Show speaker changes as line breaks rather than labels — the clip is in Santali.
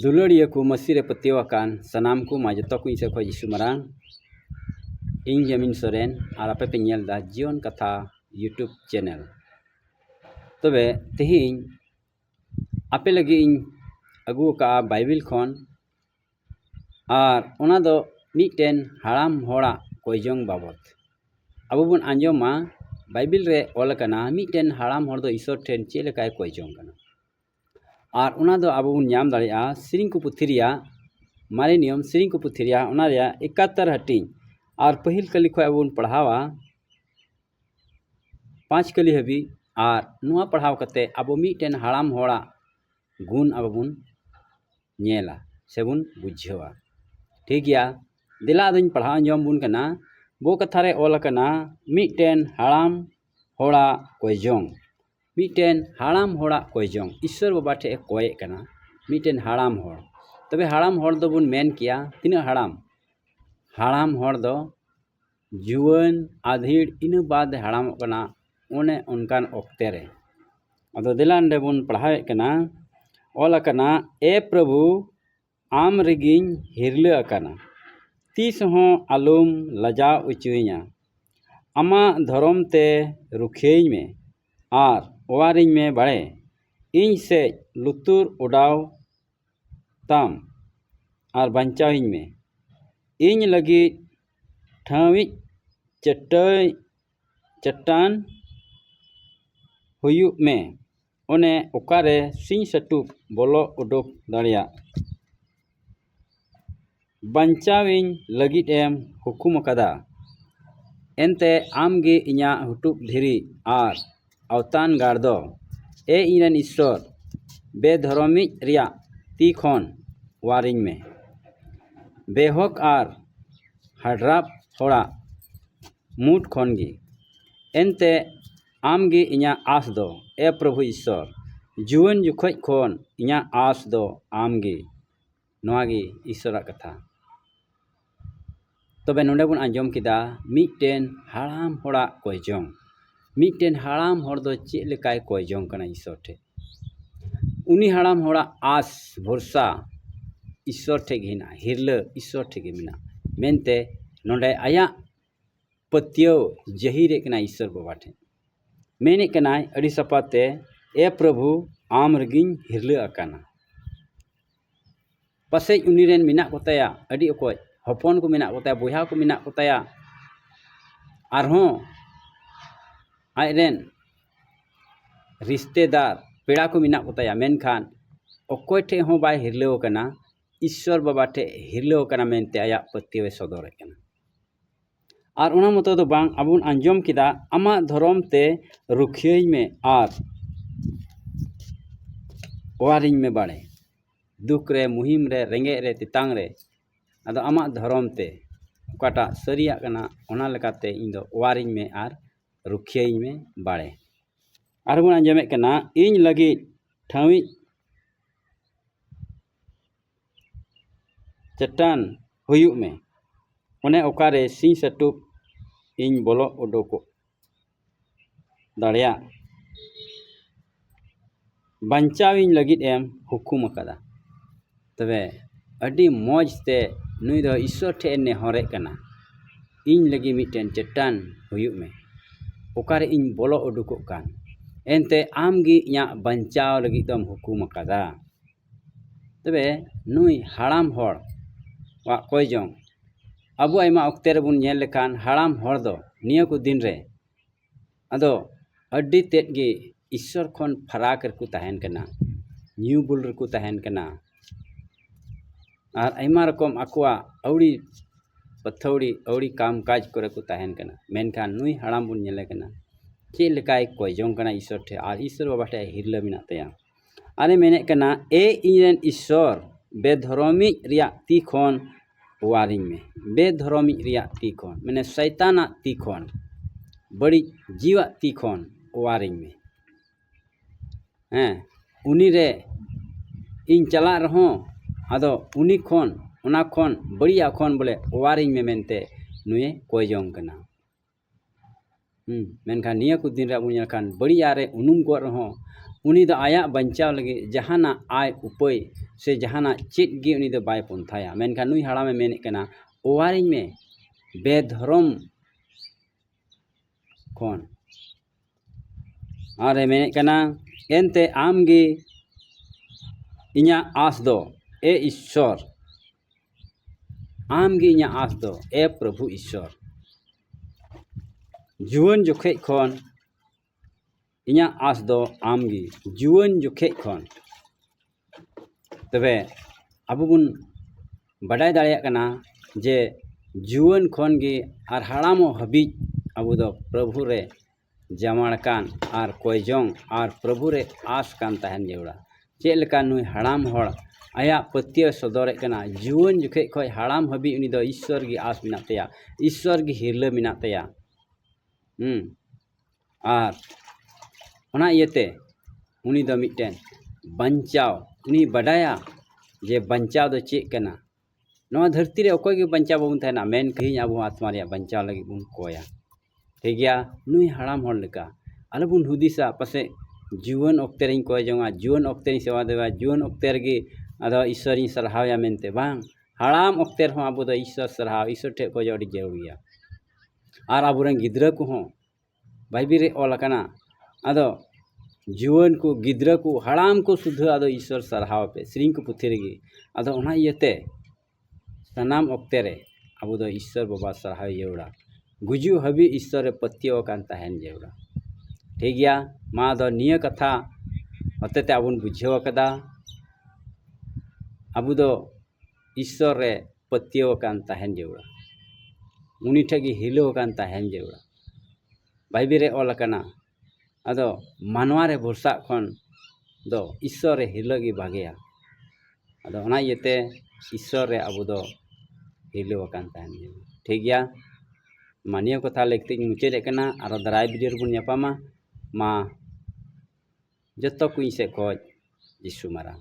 ᱫᱩᱞᱟᱹᱲᱤᱭᱟᱹ ᱠᱚ ᱢᱟᱹᱥᱤ ᱨᱮ ᱯᱟᱹᱛᱭᱟᱹᱣ ᱟᱠᱟᱱ ᱥᱟᱱᱟᱢ ᱠᱚ ᱢᱟ ᱡᱚᱛᱚ ᱠᱚ ᱤᱧ ᱥᱮᱫ ᱠᱷᱚᱱ ᱡᱤᱥᱩ ᱢᱟᱨᱟᱝ ᱤᱧ ᱡᱟᱢᱤᱱ ᱥᱚᱨᱮᱱ ᱟᱨ ᱟᱯᱮ ᱯᱮ ᱧᱮᱞ ᱮᱫᱟ ᱡᱤᱭᱚᱱ ᱠᱟᱛᱷᱟ ᱤᱭᱩᱴᱩᱵᱽ ᱪᱮᱱᱮᱞ ᱛᱚᱵᱮ ᱛᱮᱦᱮᱧ ᱟᱯᱮ ᱞᱟᱹᱜᱤᱫ ᱤᱧ ᱟᱹᱜᱩ ᱟᱠᱟᱫᱼᱟ ᱵᱟᱭᱵᱮᱞ ᱠᱷᱚᱱ ᱟᱨ ᱚᱱᱟ ᱫᱚ ᱢᱤᱫᱴᱮᱱ ᱦᱟᱲᱟᱢ ᱦᱚᱲᱟᱜ ᱠᱚᱭᱡᱚᱝ ᱵᱟᱵᱚᱛ ᱟᱵᱚ ᱵᱚᱱ ᱟᱸᱡᱚᱢᱟ ᱵᱟᱭᱵᱮᱞ ᱨᱮ ᱚᱞ ᱟᱠᱟᱱᱟ ᱢᱤᱫᱴᱮᱱ ᱦᱟᱲᱟᱢ ᱦᱚᱲ ᱫᱚ ᱤᱥᱥᱚᱨ ᱴᱷᱮᱱ ᱪᱮᱫ ᱞᱮᱠᱟᱭ ᱠᱚᱭᱡᱚᱝ ᱠᱟᱱᱟ ᱟᱨ ᱚᱱᱟ ᱫᱚ ᱟᱵᱚ ᱵᱚᱱ ᱧᱟᱢ ᱫᱟᱲᱮᱭᱟᱜᱼᱟ ᱥᱮᱨᱮᱧ ᱠᱚ ᱯᱩᱛᱷᱤ ᱨᱮᱭᱟᱜ ᱢᱟᱨᱮ ᱱᱤᱭᱚᱢ ᱥᱮᱨᱮᱧ ᱠᱚ ᱯᱩᱛᱷᱤ ᱨᱮᱭᱟᱜ ᱚᱱᱟ ᱨᱮᱭᱟᱜ ᱮᱠᱟᱛᱛᱚᱨ ᱦᱟᱹᱴᱤᱧ ᱟᱨ ᱯᱟᱹᱦᱤᱞ ᱠᱟᱹᱦᱱᱤ ᱠᱷᱚᱱ ᱟᱵᱚ ᱵᱚᱱ ᱯᱟᱲᱦᱟᱣᱟ ᱯᱟᱸᱪ ᱠᱟᱹᱞᱤ ᱦᱟᱹᱵᱤᱡ ᱟᱨ ᱱᱚᱣᱟ ᱯᱟᱲᱦᱟᱣ ᱠᱟᱛᱮᱫ ᱟᱵᱚ ᱢᱤᱫᱴᱮᱱ ᱦᱟᱲᱟᱢ ᱦᱚᱲᱟᱜ ᱜᱩᱱ ᱟᱵᱚ ᱵᱚᱱ ᱧᱮᱞᱟ ᱥᱮᱵᱚᱱ ᱵᱩᱡᱷᱟᱹᱣᱟ ᱴᱷᱤᱠ ᱜᱮᱭᱟ ᱫᱮᱞᱟ ᱟᱫᱚᱧ ᱯᱟᱲᱦᱟᱣ ᱟᱸᱡᱚᱢ ᱟᱵᱚᱱ ᱠᱟᱱᱟ ᱵᱚ ᱠᱟᱛᱷᱟ ᱨᱮ ᱚᱞ ᱟᱠᱟᱱᱟ ᱢᱤᱫᱴᱮᱱ ᱦᱟᱲᱟᱢ ᱦᱚᱲᱟᱜ ᱠᱚᱭ ᱡᱚᱝ ᱢᱤᱫᱴᱮᱱ ᱦᱟᱲᱟᱢ ᱦᱚᱲᱟᱜ ᱠᱚᱭ ᱡᱚᱝ ᱤᱥᱥᱚᱨ ᱵᱟᱵᱟ ᱴᱷᱮᱱ ᱮ ᱠᱚᱭᱮᱫ ᱠᱟᱱᱟ ᱢᱤᱫᱴᱮᱱ ᱦᱟᱲᱟᱢ ᱦᱚᱲ ᱛᱚᱵᱮ ᱦᱟᱲᱟᱢ ᱦᱚᱲ ᱫᱚᱵᱚᱱ ᱢᱮᱱ ᱠᱮᱭᱟ ᱛᱤᱱᱟᱹᱜ ᱦᱟᱲᱟᱢ ᱦᱟᱲᱟᱢ ᱦᱚᱲ ᱫᱚ ᱡᱩᱣᱟᱹᱱ ᱟᱫᱷᱮᱲ ᱤᱱᱟᱹ ᱵᱟᱫᱽ ᱦᱟᱲᱟᱢᱚᱜ ᱠᱟᱱᱟ ᱚᱱᱮ ᱚᱱᱠᱟᱱ ᱚᱠᱛᱮ ᱨᱮ ᱟᱫᱚ ᱫᱮᱞᱟ ᱱᱚᱰᱮ ᱵᱚᱱ ᱯᱟᱲᱦᱟᱣᱮᱫ ᱠᱟᱱᱟ ᱚᱞ ᱟᱠᱟᱱᱟ ᱮ ᱯᱨᱚᱵᱷᱩ ᱟᱢ ᱨᱮᱜᱮᱧ ᱦᱤᱨᱞᱟᱹ ᱟᱠᱟᱱᱟ ᱛᱤᱥ ᱦᱚᱸ ᱟᱞᱚᱢ ᱞᱟᱡᱟᱣ ᱚᱪᱚᱣᱟᱹᱧᱟ ᱟᱢᱟᱜ ᱫᱷᱚᱨᱚᱢ ᱛᱮ ᱨᱩᱠᱷᱤᱭᱟᱹᱧ ᱢᱮ ᱟᱨ ᱚᱣᱟᱨᱤᱧ ᱢᱮ ᱵᱟᱲᱮ ᱤᱧ ᱥᱮᱫ ᱞᱩᱛᱩᱨ ᱚᱰᱟᱣ ᱛᱟᱢ ᱟᱨ ᱵᱟᱧᱪᱟᱣᱤᱧ ᱢᱮ ᱤᱧ ᱞᱟᱹᱜᱤᱫ ᱴᱷᱟᱶᱤᱡ ᱪᱟᱹᱴᱟᱹᱭ ᱪᱟᱹᱴᱟᱱ ᱦᱩᱭᱩᱜ ᱢᱮ ᱚᱱᱮ ᱚᱠᱟᱨᱮ ᱥᱤᱧ ᱥᱟᱹᱴᱩᱠ ᱵᱚᱞᱚ ᱩᱰᱩᱠ ᱫᱟᱲᱮᱭᱟᱜ ᱵᱟᱧᱪᱟᱣᱤᱧ ᱞᱟᱹᱜᱤᱫ ᱮᱢ ᱦᱩᱠᱩᱢ ᱟᱠᱟᱫᱟ ᱮᱱᱛᱮ ᱟᱢᱜᱮ ᱤᱧᱟᱹᱜ ᱦᱩᱴᱩᱜ ᱫᱷᱤᱨᱤ ᱟᱨ ᱟᱣᱛᱟᱱ ᱜᱟᱲ ᱫᱚ ᱮ ᱤᱧ ᱨᱮᱱ ᱤᱥᱥᱚᱨ ᱵᱮᱼᱫᱷᱚᱨᱚᱢᱤᱡ ᱨᱮᱭᱟᱜ ᱛᱤ ᱠᱷᱚᱱ ᱚᱣᱟᱨᱤᱧ ᱢᱮ ᱵᱮᱼᱦᱚᱠ ᱟᱨ ᱦᱟᱰᱨᱟᱯ ᱦᱚᱲᱟᱜ ᱢᱩᱴ ᱠᱷᱚᱱ ᱜᱮ ᱮᱱᱛᱮ ᱟᱢ ᱜᱮ ᱤᱧᱟᱹᱜ ᱟᱸᱥ ᱫᱚ ᱮ ᱯᱨᱚᱵᱷᱩ ᱤᱥᱥᱚᱨ ᱡᱩᱣᱟᱹᱱ ᱡᱚᱠᱷᱚᱡ ᱠᱷᱚᱱ ᱤᱧᱟᱹᱜ ᱟᱸᱥ ᱫᱚ ᱟᱢ ᱜᱮ ᱱᱚᱣᱟ ᱜᱮ ᱤᱥᱥᱚᱨᱟᱜ ᱠᱟᱛᱷᱟ ᱛᱚᱵᱮ ᱱᱚᱰᱮ ᱵᱚᱱ ᱟᱸᱡᱚᱢ ᱠᱮᱫᱟ ᱢᱤᱫᱴᱮᱱ ᱦᱟᱲᱟᱢ ᱦᱚᱲᱟᱜ ᱠᱚᱭ ᱡᱚᱝ ᱢᱤᱫᱴᱮᱱ ᱦᱟᱲᱟᱢ ᱦᱚᱲ ᱫᱚ ᱪᱮᱫ ᱞᱮᱠᱟᱭ ᱠᱚᱭ ᱡᱚᱝ ᱠᱟᱱᱟ ᱤᱥᱥᱚᱨ ᱴᱷᱮᱱ ᱩᱱᱤ ᱦᱟᱲᱟᱢ ᱦᱚᱲᱟᱜ ᱟᱸᱥ ᱵᱷᱚᱨᱥᱟ ᱤᱥᱥᱚᱨ ᱴᱷᱮᱱ ᱜᱮ ᱦᱮᱱᱟᱜᱼᱟ ᱦᱤᱨᱞᱟᱹ ᱤᱥᱥᱚᱨ ᱴᱷᱮᱱ ᱜᱮ ᱢᱮᱱᱟᱜᱼᱟ ᱢᱮᱱᱛᱮ ᱱᱚᱰᱮ ᱟᱭᱟᱜ ᱯᱟᱹᱛᱭᱟᱹᱣ ᱡᱟᱹᱦᱤᱨᱮᱫ ᱠᱟᱱᱟᱭ ᱤᱥᱥᱚᱨ ᱵᱟᱵᱟ ᱴᱷᱮᱱ ᱢᱮᱱᱮᱫ ᱠᱟᱱᱟᱭ ᱟᱹᱰᱤ ᱥᱟᱯᱷᱟᱛᱮ ᱮ ᱯᱨᱚᱵᱷᱩ ᱟᱢ ᱨᱮᱜᱮᱧ ᱦᱤᱨᱞᱟᱹ ᱟᱠᱟᱱᱟ ᱯᱟᱥᱮᱡ ᱩᱱᱤ ᱨᱮᱱ ᱢᱮᱱᱟᱜ ᱠᱚᱛᱟᱭᱟ ᱟᱹᱰᱤ ᱚᱠᱚᱡ ᱦᱚᱯᱚᱱ ᱠᱚ ᱢᱮᱱᱟᱜ ᱠᱚᱛᱟᱭᱟ ᱵᱚᱭᱦᱟ ᱠᱚ ᱢᱮᱱᱟᱜ ᱠᱚᱛᱟᱭᱟ ᱟᱨᱦᱚᱸ ᱟᱡ ᱨᱮᱱ ᱨᱤᱥᱛᱮᱫᱟᱨ ᱯᱮᱲᱟ ᱠᱚ ᱢᱮᱱᱟᱜ ᱠᱚᱛᱟᱭᱟ ᱢᱮᱱᱠᱷᱟᱱ ᱚᱠᱚᱭ ᱴᱷᱮᱡ ᱦᱚᱸ ᱵᱟᱭ ᱦᱤᱨᱞᱟᱹᱣ ᱠᱟᱱᱟ ᱤᱥᱥᱚᱨ ᱵᱟᱵᱟ ᱴᱷᱮᱡ ᱦᱤᱨᱞᱟᱹᱣ ᱠᱟᱱᱟ ᱢᱮᱱᱛᱮ ᱟᱭᱟᱜ ᱯᱟᱹᱛᱭᱟᱹᱣᱮ ᱥᱚᱫᱚᱨᱮᱫ ᱠᱟᱱᱟ ᱟᱨ ᱚᱱᱟ ᱢᱚᱛᱚ ᱫᱚ ᱵᱟᱝ ᱟᱵᱚ ᱵᱚᱱ ᱟᱸᱡᱚᱢ ᱠᱮᱫᱟ ᱟᱢᱟᱜ ᱫᱷᱚᱨᱚᱢ ᱛᱮ ᱨᱩᱠᱷᱤᱭᱟᱹᱧ ᱢᱮ ᱟᱨ ᱚᱣᱟᱨᱤᱧ ᱢᱮ ᱵᱟᱲᱮ ᱫᱩᱠ ᱨᱮ ᱢᱩᱦᱤᱢ ᱨᱮ ᱨᱮᱸᱜᱮᱡ ᱨᱮ ᱛᱮᱛᱟᱝ ᱨᱮ ᱟᱫᱚ ᱟᱢᱟᱜ ᱫᱷᱚᱨᱚᱢ ᱛᱮ ᱚᱠᱟᱴᱟᱜ ᱥᱟᱹᱨᱤᱭᱟᱜ ᱠᱟᱱᱟ ᱚᱱᱟ ᱞᱮᱠᱟᱛᱮ ᱤᱧ ᱫᱚ ᱚᱣᱟᱨᱤᱧ ᱢᱮ ᱟᱨ ᱨᱩᱠᱷᱤᱭᱟᱹᱧ ᱢᱮ ᱵᱟᱲᱮ ᱟᱨ ᱵᱚᱱ ᱟᱸᱡᱚᱢᱮᱫ ᱠᱟᱱᱟ ᱤᱧ ᱞᱟᱹᱜᱤᱫ ᱴᱷᱟᱶᱤᱡ ᱪᱟᱹᱴᱟᱹᱱ ᱦᱩᱭᱩᱜ ᱢᱮ ᱚᱱᱮ ᱚᱠᱟᱨᱮ ᱥᱤᱧ ᱥᱟᱹᱴᱩᱵ ᱤᱧ ᱵᱚᱞᱚ ᱩᱰᱩᱠᱚᱜ ᱫᱟᱲᱮᱭᱟᱜ ᱵᱟᱧᱪᱟᱣ ᱤᱧ ᱞᱟᱹᱜᱤᱫ ᱮᱢ ᱦᱩᱠᱩᱢ ᱟᱠᱟᱫᱟ ᱛᱚᱵᱮ ᱟᱹᱰᱤ ᱢᱚᱡᱽ ᱛᱮ ᱱᱩᱭ ᱫᱚ ᱤᱥᱥᱚᱨ ᱴᱷᱮᱱᱮ ᱱᱮᱦᱚᱨᱮᱫ ᱠᱟᱱᱟ ᱤᱧ ᱞᱟᱹᱜᱤᱫ ᱢᱤᱫᱴᱮᱱ ᱪᱟᱹᱴᱟᱹᱱ ᱦᱩᱭᱩᱜ ᱢᱮ ᱚᱠᱟᱨᱮ ᱤᱧ ᱵᱚᱞᱚ ᱩᱰᱩᱠᱚᱜ ᱠᱟᱱ ᱮᱱᱛᱮᱫ ᱟᱢ ᱜᱮ ᱤᱧᱟᱹᱜ ᱵᱟᱧᱪᱟᱣ ᱞᱟᱹᱜᱤᱫ ᱫᱚᱢ ᱦᱩᱠᱩᱢ ᱟᱠᱟᱫᱟ ᱛᱚᱵᱮ ᱱᱩᱭ ᱦᱟᱲᱟᱢ ᱦᱚᱲ ᱟᱜ ᱠᱚᱭ ᱡᱚᱝ ᱟᱵᱚ ᱟᱭᱢᱟ ᱚᱠᱛᱮ ᱨᱮᱵᱚᱱ ᱧᱮᱞ ᱞᱮᱠᱷᱟᱱ ᱦᱟᱲᱟᱢ ᱦᱚᱲ ᱫᱚ ᱱᱤᱭᱟᱹ ᱠᱚ ᱫᱤᱱ ᱨᱮ ᱟᱫᱚ ᱟᱹᱰᱤ ᱛᱮᱫ ᱜᱮ ᱤᱥᱥᱚᱨ ᱠᱷᱚᱱ ᱯᱷᱟᱨᱟᱠ ᱨᱮᱠᱚ ᱛᱟᱦᱮᱱ ᱠᱟᱱᱟ ᱧᱩ ᱵᱩᱞ ᱨᱮᱠᱚ ᱛᱟᱦᱮᱱ ᱠᱟᱱᱟ ᱟᱨ ᱟᱭᱢᱟ ᱨᱚᱠᱚᱢ ᱟᱠᱚᱣᱟᱜ ᱟᱹᱣᱲᱤ ᱟᱹᱛᱷᱟᱹᱣᱲᱤ ᱟᱹᱣᱲᱤ ᱠᱟᱢ ᱠᱟᱡᱽ ᱠᱚᱨᱮ ᱠᱚ ᱛᱟᱦᱮᱱ ᱠᱟᱱᱟ ᱢᱮᱱᱠᱷᱟᱱ ᱱᱩᱭ ᱦᱟᱲᱟᱢ ᱵᱚᱱ ᱧᱮᱞᱮ ᱠᱟᱱᱟ ᱪᱮᱫ ᱞᱮᱠᱟᱭ ᱠᱚᱭ ᱡᱚᱝ ᱠᱟᱱᱟ ᱤᱥᱥᱚᱨ ᱴᱷᱮᱱ ᱟᱨ ᱤᱥᱥᱚᱨ ᱵᱟᱵᱟ ᱴᱷᱮᱱ ᱦᱤᱨᱞᱟᱹ ᱢᱮᱱᱟᱜ ᱛᱟᱭᱟ ᱟᱨᱮ ᱢᱮᱱᱮᱫ ᱠᱟᱱᱟ ᱮ ᱤᱧ ᱨᱮᱱ ᱤᱥᱥᱚᱨ ᱵᱮᱫᱷᱚᱨᱚᱢᱤᱡ ᱨᱮᱭᱟᱜ ᱛᱤ ᱠᱷᱚᱱ ᱚᱣᱟᱨᱤᱧ ᱢᱮ ᱵᱮᱫᱷᱚᱨᱚᱢᱤᱡ ᱨᱮᱭᱟᱜ ᱛᱤ ᱠᱷᱚᱱ ᱢᱟᱱᱮ ᱥᱚᱭᱛᱟᱱᱟᱜ ᱛᱤ ᱠᱷᱚᱱ ᱵᱟᱹᱲᱤᱡ ᱡᱤᱣᱟᱜ ᱛᱤ ᱠᱷᱚᱱ ᱚᱣᱟᱨᱤᱧ ᱢᱮ ᱦᱮᱸ ᱩᱱᱤ ᱨᱮ ᱤᱧ ᱪᱟᱞᱟᱜ ᱨᱮᱦᱚᱸ ᱟᱫᱚ ᱩᱱᱤ ᱠᱷᱚᱱ ᱚᱱᱟ ᱠᱷᱚᱱ ᱵᱟᱹᱲᱤᱡᱟᱜ ᱠᱷᱚᱱ ᱵᱚᱞᱮ ᱚᱣᱟᱨᱤᱧ ᱢᱮ ᱢᱮᱱᱛᱮ ᱱᱩᱭᱮ ᱠᱚᱭ ᱡᱚᱝ ᱠᱟᱱᱟ ᱢᱮᱱᱠᱷᱟᱱ ᱱᱤᱭᱟᱹ ᱠᱚ ᱫᱤᱱ ᱨᱮ ᱟᱵᱚ ᱵᱚᱱ ᱧᱮᱞ ᱞᱮᱠᱷᱟᱱ ᱵᱟᱹᱲᱤᱡ ᱟᱜ ᱨᱮ ᱩᱱᱩᱢ ᱠᱚᱜ ᱨᱮᱦᱚᱸ ᱩᱱᱤ ᱫᱚ ᱟᱭᱟᱜ ᱵᱟᱧᱪᱟᱣ ᱞᱟᱹᱜᱤᱫ ᱡᱟᱦᱟᱱᱟᱜ ᱟᱭ ᱩᱯᱟᱹᱭ ᱥᱮ ᱡᱟᱦᱟᱱᱟᱜ ᱪᱮᱫ ᱜᱮ ᱩᱱᱤ ᱫᱚ ᱵᱟᱭ ᱯᱚᱱᱛᱷᱟᱭᱟ ᱢᱮᱱᱠᱷᱟᱱ ᱱᱩᱭ ᱦᱟᱲᱟᱢᱮ ᱢᱮᱱᱮᱫ ᱠᱟᱱᱟ ᱚᱣᱟᱨᱤᱧ ᱢᱮ ᱵᱮᱫᱷᱚᱨᱚᱢ ᱠᱷᱚᱱ ᱟᱨᱮ ᱢᱮᱱᱮᱫ ᱠᱟᱱᱟ ᱮᱱᱛᱮ ᱟᱢᱜᱮ ᱤᱧᱟᱹᱜ ᱟᱸᱥ ᱫᱚ ᱮ ᱤᱥᱥᱚᱨ ᱟᱢ ᱜᱮ ᱤᱧᱟᱹᱜ ᱟᱸᱥ ᱫᱚ ᱮ ᱯᱨᱚᱵᱷᱩ ᱤᱥᱥᱚᱨ ᱡᱩᱣᱟᱹᱱ ᱡᱚᱠᱷᱮᱡ ᱠᱷᱚᱱ ᱤᱧᱟᱹᱜ ᱟᱸᱥ ᱫᱚ ᱟᱢ ᱜᱮ ᱡᱩᱣᱟᱹᱱ ᱡᱚᱠᱷᱮᱡ ᱠᱷᱚᱱ ᱛᱚᱵᱮ ᱟᱵᱚ ᱵᱚᱱ ᱵᱟᱰᱟᱭ ᱫᱟᱲᱮᱭᱟᱜ ᱠᱟᱱᱟ ᱡᱮ ᱡᱩᱣᱟᱹᱱ ᱠᱷᱚᱱ ᱜᱮ ᱟᱨ ᱦᱟᱲᱟᱢᱚᱜ ᱦᱟᱹᱵᱤᱡ ᱟᱵᱚ ᱫᱚ ᱯᱨᱚᱵᱷᱩ ᱨᱮ ᱡᱟᱶᱟᱲ ᱠᱟᱱ ᱟᱨ ᱠᱚᱭᱡᱚᱝ ᱟᱨ ᱯᱨᱚᱵᱷᱩ ᱨᱮ ᱟᱸᱥ ᱠᱟᱱ ᱛᱟᱦᱮᱱ ᱡᱟᱹᱨᱩᱲᱟ ᱪᱮᱫ ᱞᱮᱠᱟ ᱱᱩᱭ ᱦᱟᱲᱟᱢ ᱦᱚᱲ ᱟᱭᱟᱜ ᱯᱟᱹᱛᱭᱟᱹᱣ ᱥᱚᱫᱚᱨᱮᱫ ᱠᱟᱱᱟ ᱡᱩᱣᱟᱹᱱ ᱡᱚᱠᱷᱮᱡ ᱠᱷᱚᱱ ᱦᱟᱲᱟᱢ ᱦᱟᱹᱵᱤᱡ ᱩᱱᱤ ᱫᱚ ᱤᱥᱥᱚᱨ ᱜᱮ ᱟᱸᱥ ᱢᱮᱱᱟᱜ ᱛᱟᱭᱟ ᱤᱥᱥᱚᱨ ᱜᱮ ᱦᱤᱨᱞᱟᱹ ᱢᱮᱱᱟᱜ ᱛᱟᱭᱟ ᱦᱮᱸ ᱟᱨ ᱚᱱᱟ ᱤᱭᱟᱹᱛᱮ ᱩᱱᱤ ᱫᱚ ᱢᱤᱫᱴᱮᱱ ᱵᱟᱧᱪᱟᱣ ᱩᱱᱤ ᱵᱟᱰᱟᱭᱟ ᱡᱮ ᱵᱟᱧᱪᱟᱣ ᱫᱚ ᱪᱮᱫ ᱠᱟᱱᱟ ᱱᱚᱣᱟ ᱫᱷᱟᱹᱨᱛᱤ ᱨᱮ ᱚᱠᱚᱭ ᱜᱮ ᱵᱟᱧᱪᱟᱣ ᱵᱟᱵᱚᱱ ᱛᱟᱦᱮᱱᱟ ᱢᱮᱱᱠᱷᱟᱱ ᱟᱵᱚ ᱟᱛᱢᱟ ᱨᱮᱭᱟᱜ ᱵᱟᱧᱪᱟᱣ ᱞᱟᱹᱜᱤᱫ ᱵᱚᱱ ᱠᱚᱭᱟ ᱴᱷᱤᱠ ᱜᱮᱭᱟ ᱱᱩᱭ ᱦᱟᱲᱟᱢ ᱦᱚᱲ ᱞᱮᱠᱟ ᱟᱞᱚ ᱵᱚᱱ ᱦᱩᱫᱤᱥᱟ ᱯᱟᱥᱮᱡ ᱡᱩᱣᱟᱹᱱ ᱚᱠᱛᱮ ᱨᱤᱧ ᱠᱚᱭ ᱡᱚᱝᱼᱟ ᱡᱩᱣᱟᱹᱱ ᱚᱠᱛᱮ ᱨᱤᱧ ᱥᱮᱵᱟ ᱫᱮᱵᱟᱭᱟ ᱡᱩᱣᱟᱹᱱ ᱚᱠᱛᱮ ᱨᱮᱜᱮ ᱟᱫᱚ ᱤᱥᱥᱚᱨ ᱤᱧ ᱥᱟᱨᱦᱟᱣ ᱮᱭᱟ ᱢᱮᱱᱛᱮ ᱵᱟᱝ ᱦᱟᱲᱟᱢ ᱚᱠᱛᱮ ᱨᱮᱦᱚᱸ ᱟᱵᱚ ᱫᱚ ᱤᱥᱥᱚᱨ ᱥᱟᱨᱦᱟᱣ ᱤᱥᱥᱚᱨ ᱴᱷᱮᱱ ᱠᱷᱚᱡᱚᱜ ᱟᱹᱰᱤ ᱡᱟᱹᱨᱩᱲ ᱜᱮᱭᱟ ᱟᱨ ᱟᱵᱚ ᱨᱮᱱ ᱜᱤᱫᱽᱨᱟᱹ ᱠᱚᱦᱚᱸ ᱵᱟᱭᱵᱮᱞ ᱨᱮ ᱚᱞ ᱟᱠᱟᱱᱟ ᱟᱫᱚ ᱡᱩᱣᱟᱹᱱ ᱠᱚ ᱜᱤᱫᱽᱨᱟᱹ ᱠᱚ ᱦᱟᱲᱟᱢ ᱠᱚ ᱥᱩᱫᱷᱟᱹ ᱟᱫᱚ ᱤᱥᱥᱚᱨ ᱥᱟᱨᱦᱟᱣ ᱯᱮ ᱥᱮᱨᱮᱧ ᱠᱚ ᱯᱩᱛᱷᱤ ᱨᱮᱜᱮ ᱟᱫᱚ ᱚᱱᱟ ᱤᱭᱟᱹᱛᱮ ᱥᱟᱱᱟᱢ ᱚᱠᱛᱮ ᱨᱮ ᱟᱵᱚ ᱫᱚ ᱤᱥᱥᱚᱨ ᱵᱟᱵᱟ ᱥᱟᱨᱦᱟᱣ ᱡᱟᱹᱨᱩᱲᱟ ᱜᱩᱡᱩᱜ ᱦᱟᱹᱵᱤᱡ ᱤᱥᱥᱚᱨ ᱨᱮ ᱯᱟᱹᱛᱭᱟᱹᱣ ᱟᱠᱟᱱ ᱛᱟᱦᱮᱱ ᱡᱟᱹᱨᱩᱲᱟ ᱴᱷᱤᱠ ᱜᱮᱭᱟ ᱢᱟ ᱟᱫᱚ ᱱᱤᱭᱟᱹ ᱠᱟᱛᱷᱟ ᱦᱚᱛᱮᱛᱮ ᱟᱵᱚ ᱵᱚᱱ ᱵᱩᱡᱷᱟᱹᱣ ᱟᱠᱟᱫᱟ ᱟᱵᱚ ᱫᱚ ᱤᱥᱥᱚᱨ ᱨᱮ ᱯᱟᱹᱛᱭᱟᱹᱣ ᱟᱠᱟᱱ ᱛᱟᱦᱮᱱ ᱡᱟᱹᱨᱩᱲᱟ ᱩᱱᱤ ᱴᱷᱮᱱ ᱜᱮ ᱦᱤᱞᱟᱹᱣ ᱟᱠᱟᱱ ᱛᱟᱦᱮᱱ ᱡᱟᱹᱨᱩᱲᱟ ᱵᱟᱭᱵᱮᱞ ᱨᱮ ᱚᱞ ᱟᱠᱟᱱᱟ ᱟᱫᱚ ᱢᱟᱱᱣᱟ ᱨᱮ ᱵᱷᱚᱨᱥᱟᱜ ᱠᱷᱚᱱ ᱫᱚ ᱤᱥᱥᱚᱨ ᱨᱮ ᱦᱤᱞᱟᱹᱜ ᱜᱮ ᱵᱷᱟᱜᱮᱭᱟ ᱟᱫᱚ ᱚᱱᱟ ᱤᱭᱟᱹᱛᱮ ᱤᱥᱥᱚᱨ ᱨᱮ ᱟᱵᱚ ᱫᱚ ᱦᱤᱞᱟᱹᱣ ᱟᱠᱟᱱ ᱛᱟᱦᱮᱱ ᱡᱟᱹᱨᱩᱲᱟ ᱴᱷᱤᱠ ᱜᱮᱭᱟ ᱢᱟ ᱱᱤᱭᱟᱹ ᱠᱟᱛᱷᱟ ᱞᱟᱹᱭ ᱠᱟᱛᱮ ᱤᱧ ᱢᱩᱪᱟᱹᱫ ᱮᱫ ᱠᱟᱱᱟ ᱟᱨᱚ ᱫᱟᱨᱟᱭ ᱵᱷᱤᱰᱤᱭᱳ ᱨᱮᱵᱚᱱ ᱧᱟᱯᱟᱢᱟ ᱢᱟ ᱡᱚᱛᱚ ᱠᱚ ᱤᱧ ᱥᱮᱫ ᱠᱷᱚᱱ ᱡᱤᱥᱩ ᱢᱟᱨᱟᱝ